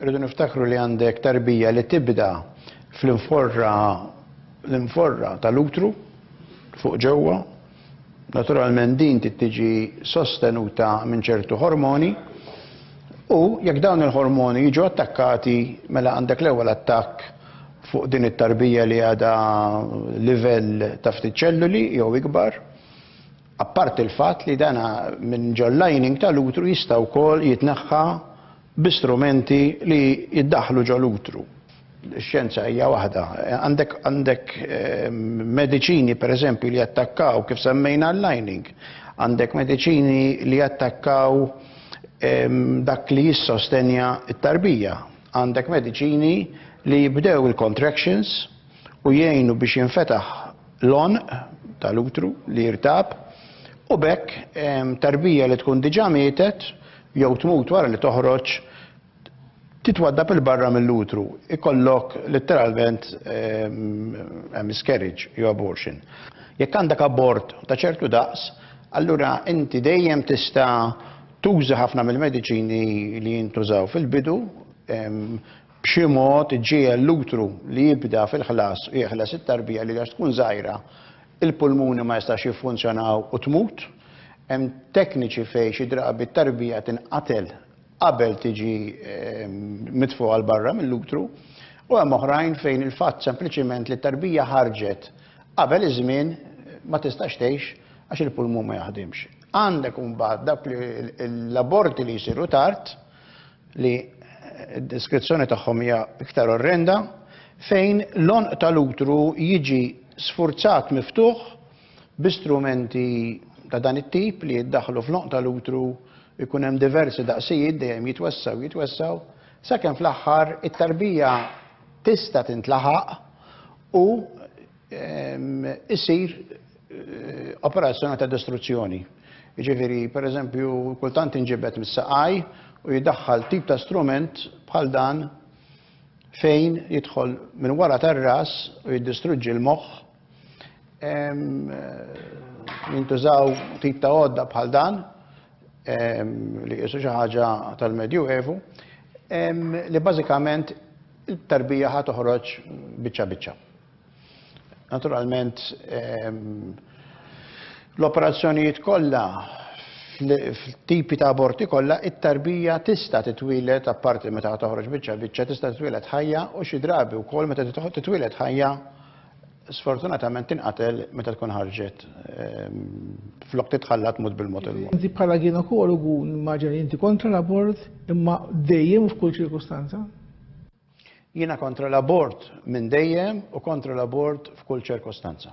Irridu niftakru li għandek tarbija li tibda fl-inforra l-inforra tal-utru fuq ġewwa. Naturalment din trid tiġi sostenuta minn ċertu ħormoni u jekk dawn il-ħormoni jiġu attakkati mela għandek l-ewwel attakk fuq din it-tarbija li għadha livell ta' ftit ċelluli jew ikbar. Apparti l-fatt li dana minn ġol-lining tal-utru jista' wkoll jitneħħa bi strumenti li jiddaħħlu ġol-utru. Ix-xjenza hija waħda. Għandek għandek mediċini pereżempju li jattakkaw kif semmejna l-lining. Għandek mediċini li jattakkaw dak li jissostenja t-tarbija. Għandek mediċini li jibdew il-contractions u jgħinu biex jinfetaħ l-għonq tal-utru li jirtab u b'hekk tarbija li tkun diġà mietet jew tmut wara li toħroġ titwaddab il-barra mill-utru, ikollok litteralment ehm, miscarriage jew abortion. Jekk għandek abort ta' ċertu daqs, allura inti dejjem tista' tuża ħafna mill-mediċini li jintużaw fil-bidu ehm, b'xi mod ġiel l-utru li jibda fil-ħlas u jeħles it-tarbija li għax tkun żgħira Il-pulmuni ma jistax jiffunzjonaw u tmut. Hemm tekniċi fejn xi drabi t-tarbija tinqatel qabel tiġi mitfugħa 'l barra mill-utru u hemm oħrajn fejn il-fatt sempliċiment li t-tarbija ħarġet qabel iż-żmien ma tistax tgħix għax il-pulmun ma jaħdimx. Għandek imbagħad dawk l-aborti li jsiru tard li d-deskrizzjoni tagħhom hija iktar orrenda, fejn l-għonq tal-utru jiġi sfurzat miftuħ bi strumenti ta' dan it-tip li jiddaħħlu fl-għonq tal-utru jkun hemm diversi daqsijiet dejjem jitwessgħu jitwessgħu sakemm fl-aħħar it-tarbija tista' tintlaħaq u issir operazzjoni ta' distruzzjoni. Jiġifieri, pereżempju, kultant inġibed mis-saqaj u jidaħħal tip ta' strument bħal dan fejn jidħol minn wara tar-ras u jiddistruġġi l-moħħ. Jintużaw tip ta' għodda bħal dan li qisu xi ħaġa tal-Medju Evu li bażikament it-tarbija ħa toħroġ biċċa biċċa. Naturalment, l-operazzjonijiet kollha, f'tipi ta' aborti kollha, it-tarbija tista' titwieled, apparti meta toħroġ biċċa biċċa, tista' titwieled ħajja u xi drabi wkoll meta titwieled ħajja sfortunatament tinqatel meta tkun ħarġet flok titħalla tmut bil-mod il-mod. Inti bħala ginekologu nimmaġina li inti kontra l-abort imma dejjem u f'kull ċirkustanza? Jiena kontra l-abort minn dejjem u kontra l-abort f'kull ċirkostanza.